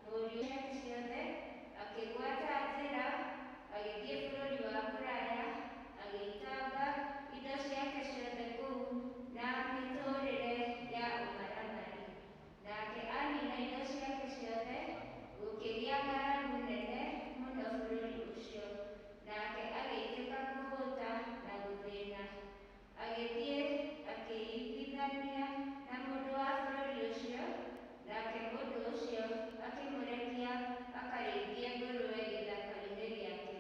Mũriũ ciake ciothe, akĩgwata njĩra agĩthiĩ bũrũri wa kũraya, agĩitanga indo ciake ciothe kũu na mĩtũũrĩre ya ũmaramari. Nake aniina indo ciake ciothe, gũkĩgĩa ng'aragu nene mũno bũrũri ũcio, nake agĩitĩka kũhũũta na gũthĩĩna. Agĩthiĩ akĩiguithania na mũndũ wa bũrũri ũcio, nake mũndũ ũcio akĩmũrekia akarĩithie ngũrũwe gĩthaka-inĩ gĩake.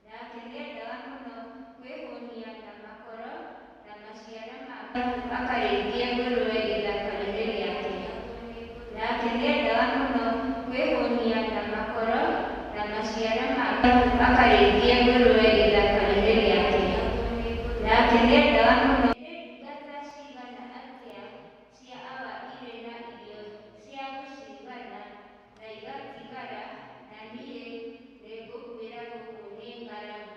Nake nĩendaga mũno kwĩhũnia na makoro na maciara ma ngano akarĩithie ngũrũwe gĩthaka-inĩ gĩake. Nake nĩendaga mũno kwĩhũnia na makoro na maciara ma. Akarĩithie ngũrũwe ithaka-inĩ rĩake. Nake nĩendaga mũno. Nĩ ndungata cigana atĩa cia awa irĩ na irio cia gũcigana na igatigara, na niĩ nĩngũkuĩra gũkũ nĩ ng'aragu.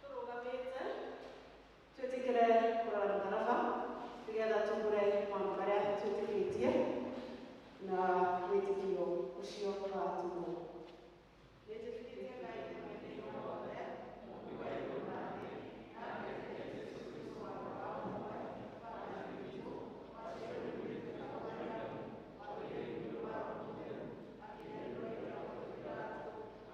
tũrũgamĩte twĩtĩkĩre kũrora mũtharaba nĩgetha tũgũre maũndũ marĩa twĩtĩkĩtie na wĩtĩkio ũcio watũmwo nĩtĩkĩtie ngai mwene wothe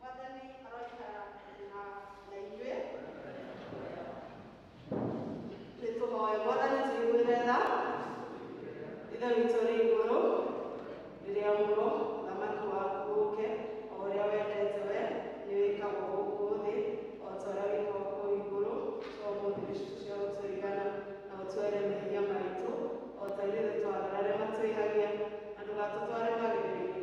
Mwathani aroikara na na inyuĩ. Nĩ tũhoe Mwathani tũiguĩre tha. Ithe witũ ũrĩ igũrũ, rĩrĩa mũro thamaki waku ũke, o ũrĩa wendete we, nĩ wĩkagwo gũkũ thĩ, o ta ũrĩa wĩkagwo kũu igũrũ, to mũndũ gĩcunjĩ cia gũtũigana, na ũtwere mehia maitũ, o ta ithuĩ twagĩra arĩa matwĩhagia, na ndũgatũtware magerio-inĩ,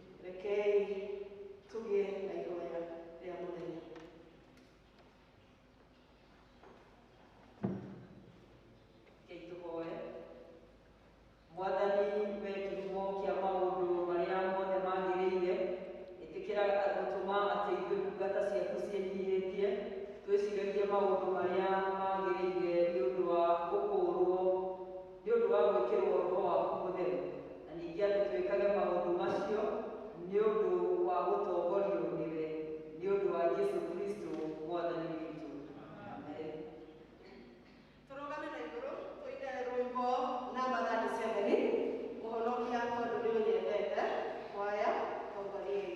Rekei tũgĩe na ihoya rĩa mũthenya. Rekei tũhoe. Mwathani we kĩhumo kĩa maũndũ marĩa mothe magĩrĩire, ĩtĩkĩra gũtũma atĩ ithuĩ ndungata ciaku ciĩnyihĩtie twĩciragie maũndũ marĩa magĩrĩire nĩ ũndũ wa gũkũũrwo Nĩ ũndũ wa gwĩkĩrũo roho waku mũtheru, na ningĩ atĩ twĩkage maũndũ macio nĩ ũndũ wa gũtongorio nĩwe, nĩ ũndũ wa Jesu Kristo Mwathani witũ. Amen. Tũrũgame na igũrũ tũine rwĩmbo namba 37, Mũhonokia Tondũ Nĩũnyendete, kwaya, Tongoriai.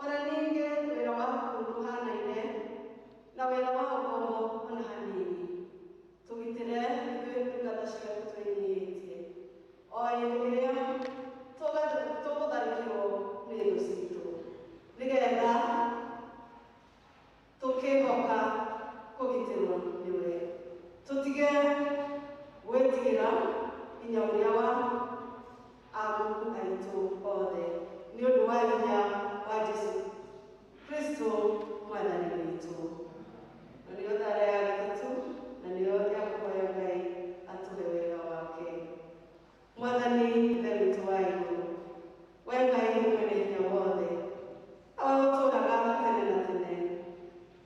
O na ningĩ wĩra waku ndũhanaine na wĩra wa ũkombo o na hanini. Tũgitĩre ithuĩ ndungata ciaku twĩnyihĩtie, o hĩndĩ ĩrĩa tũga- tũgũtharĩkĩrwo nĩ thũ citũ, nĩ getha tũkĩhoka kũgitĩrwo nĩwe. Tũtige gwĩtigĩra hinya ũrĩa wa amuku aitũ othe nĩ ũndũ wa hinya wa Jesu Kristo mwathani witũ. Na nĩyo thara ya gatatũ, na nĩyo ya kũhoya Ngai atũhe wega wake. Mwathani Ithe witũ wa igũrũ, we Ngai mwene hinya wothe, na we ũtũũraga tene na tene,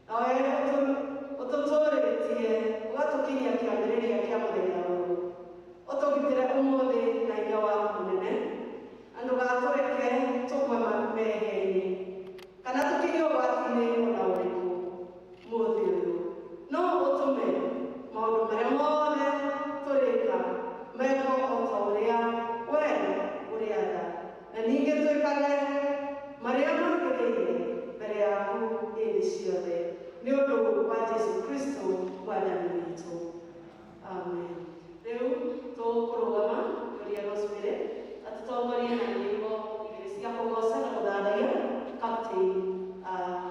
na we ũtũ- ũtũtũũrĩtie ũgatũkinyia kĩambĩrĩria kĩa mũthenya ũyũ, ũtũgitĩre ũmũthĩ na hinya waku mũnene, na ndũgatũreke tũgwe ma- mehia-inĩ, kana tũkinyio ũgwati-inĩ o na ũrĩkũ. Mũthithũ no ũtũme maũndũ marĩa mothe tũrĩka mekwo o ta ũrĩa wee ũrĩatha, na ningĩ twĩkage marĩa magĩrĩire mbere yaku hĩndĩ ciothe, nĩ ũndũ wa Jesu Kristo Mwathani witũ. Amen. Rĩu tũkũrũgama tũrie Rosemary atũtongorie na nyĩmbo igĩrĩ cia kũgooca na gũthathaiya Captain ah,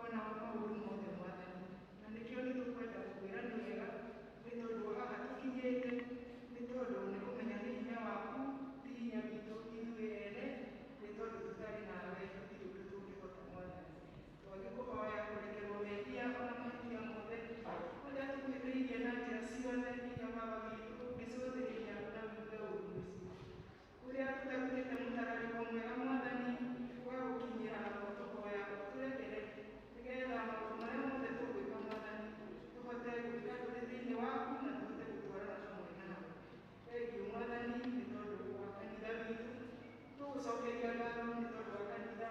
O nao maũndũ mothe, Mwathani. Na nĩkĩo nĩtũkwenda gũkwĩra nĩ wega, nĩ tondũ wa haha tũkinyĩte, nĩ tondũ nĩ kũmenya nĩ hinya waku, ti hinya witũ ithuĩ ene, nĩ tondũ tũtarĩ nawe tũtirĩ ũndũ tũngĩhota, Mwathani. Twagĩkũhoya kũrekerwo mehia o na mahĩtia mothe marĩa tũkuhĩtĩirie na njĩra ciothe, nginya watho witũ ũngĩcũthĩrĩria na ũigue ũũru mũciĩ. ũrĩa tũtarutĩte mũtararĩko mwega Mwathani wa gũkinyĩra namo tũhoya ũtũrekere nĩgetha maũndũ marĩa mothe tũgwĩka Mwathani tũhote gwĩka tũrĩ thĩinĩ waku na tũhote gũtwarana hamwe nawe thengiũ Mwathani nĩ tondũ wa kanitha witũ tũgũcokeria ngatho nĩ tondũ wa kanitha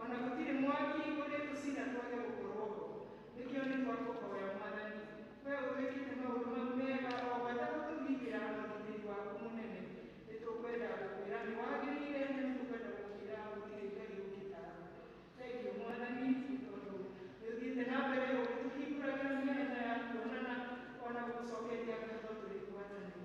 O na gũtirĩ mwaki ũrĩ tũcira twage gũkorwo ho. Nĩkĩo nĩ twakũhoya, Mwathani, Wee ũtwĩkĩte maũndũ mau mega, o gwata gũtũgitĩra na ũgitĩri waku mũnene. Nĩ tũkwenda gũkwĩra nĩ wagĩrĩire, na nĩ tũkwenda gũkwĩra gũtirĩ Ngai ũngĩ tawe. Thengiũ, Mwathani, nĩ tondũ nĩ ũthiĩte na mbere ũgĩtũhingũragĩra mĩanya ya kuonana, o na gũtũcokeria ngatho tũrĩ ngwatanĩro.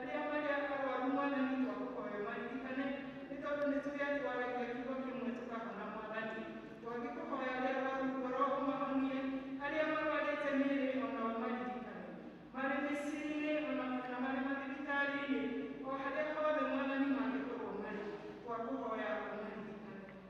Arĩa marĩ arwaru mwanya nĩ twakũhoya maririkane, nĩ tondũ nĩ tũrĩ a twaragia kiugo kĩmwe tũkahona Mwathani. Twagĩkũhoya arĩa arwaru ngoro ũmahonie, arĩa marwarĩte mĩĩrĩ o nao maririkane. Marĩ mĩciĩ-inĩ o na kana marĩ mathibitarĩ-inĩ, o harĩa hothe Mwathani mangĩkorwo marĩ, twakũhoya ũmaririkane.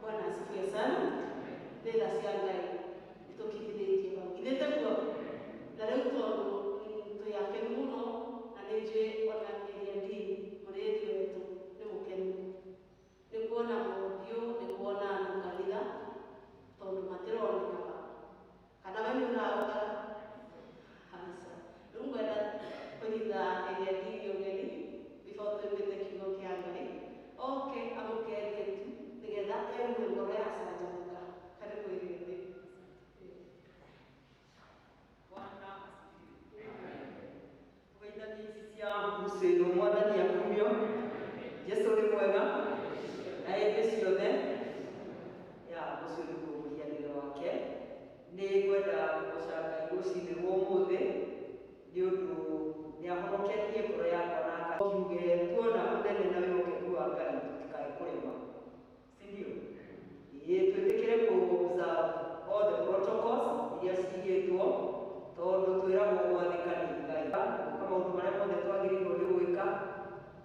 Bwana asifiwe sana. Ndenda cia Ngai itũkinyithĩtie hau. Ithe taguo na rĩu tondũ mm, twĩ akenu mũno na nĩ njũĩ ona Eliadi mũrĩĩtu wetũ nĩ mũkenu. Nĩ kuona mũthiũ nĩ kuona andũ kanitha tondũ matironekaga. Kana we nĩ ũraũga? Aca. Rĩu ngwenda kũnyita ĩgendi iria ũgeni before tũĩkĩte kiugo kĩa Ngai. Oke amũkerie tu nĩgetha aigue ngoro yacanjamũka. Karibũ ĩgendi. Bwana asifiwe. Kugaitha nĩ ici cia mũcĩrwo mwathani akumio jesu nĩ mwega na hĩndĩ ciothe ya ũcio nĩguo mũhianĩre wake nĩ ngwenda kũgoca ngai rũcinĩ rwa ũmũthĩ nĩ ũndũ nĩ ahonoketie ngoro yakwa na kiuge tuona ũnene na wĩhokeku wa ngai tũtikae kũrema si ndio? Ĩĩ, twĩtĩkĩre kũza all the protocols iria cigĩtwo tondũ twĩragwo gwathĩka nĩ Ngai na gwĩka maũndũ marĩa mothe twagĩrĩirwo nĩ gwĩka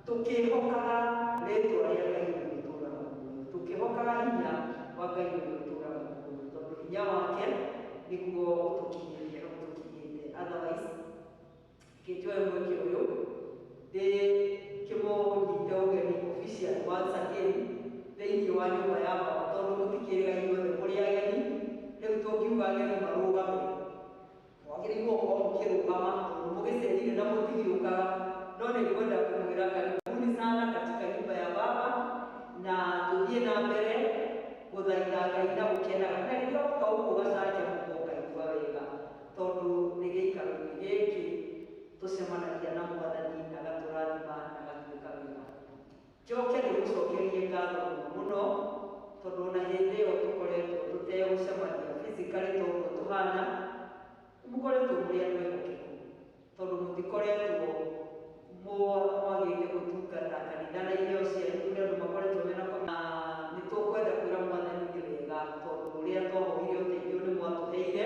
tũkĩhokaga rĩtwa rĩa Ngai ũrĩa ũtũũraga muoyo, tũkĩhokaga hinya wa Ngai ũrĩa ũtũũraga muoyo, tondũ hinya wake nĩguo ũtũkinyĩtie hau tũkinyĩte, otherwise Ngĩkĩoya mweke ũyũ ndĩ kĩmũnyite ũgeni officially once again thĩinĩ wa nyũmba ya Baba tondũ mũtikĩrĩga inyuothe mũrĩ ageni, rĩu tũngiuga ageni marũgame mwagĩrĩirwo gũkorwo mũkĩrũgama tondũ mũgĩcerire na mũtigĩũkaga, no nĩ ngwenda kũmwĩra karibuni sana katika nyumba ya Baba na tũthiĩ na mbere gũthaitha Ngai na gũkenaga na rĩrĩa woka gũkũ ũgacanjamũka ũkaigua wega. Tondũ nĩ gĩikaro-inĩ gĩkĩ tũcemanagia na Mwathani agatũrathima na agatwĩka wega. Njoke ndĩmũcokerie ngatho mũno mũno tondũ o na hĩndĩ ĩyo tũkoretwo tũtegũcemania physically ta ũguo tũhana, nĩ mũkoretwo mũrĩ andũ ehokeku tondũ mũtikoretwo mwagĩte gũtungata kanitha na iheo cianyu kũrĩ andũ makoretwo me na Covid, na nĩ tũkwenda kwĩra Mwathani nĩ wega tondũ ũrĩa twahoire ũteithio nĩ mwatũheire.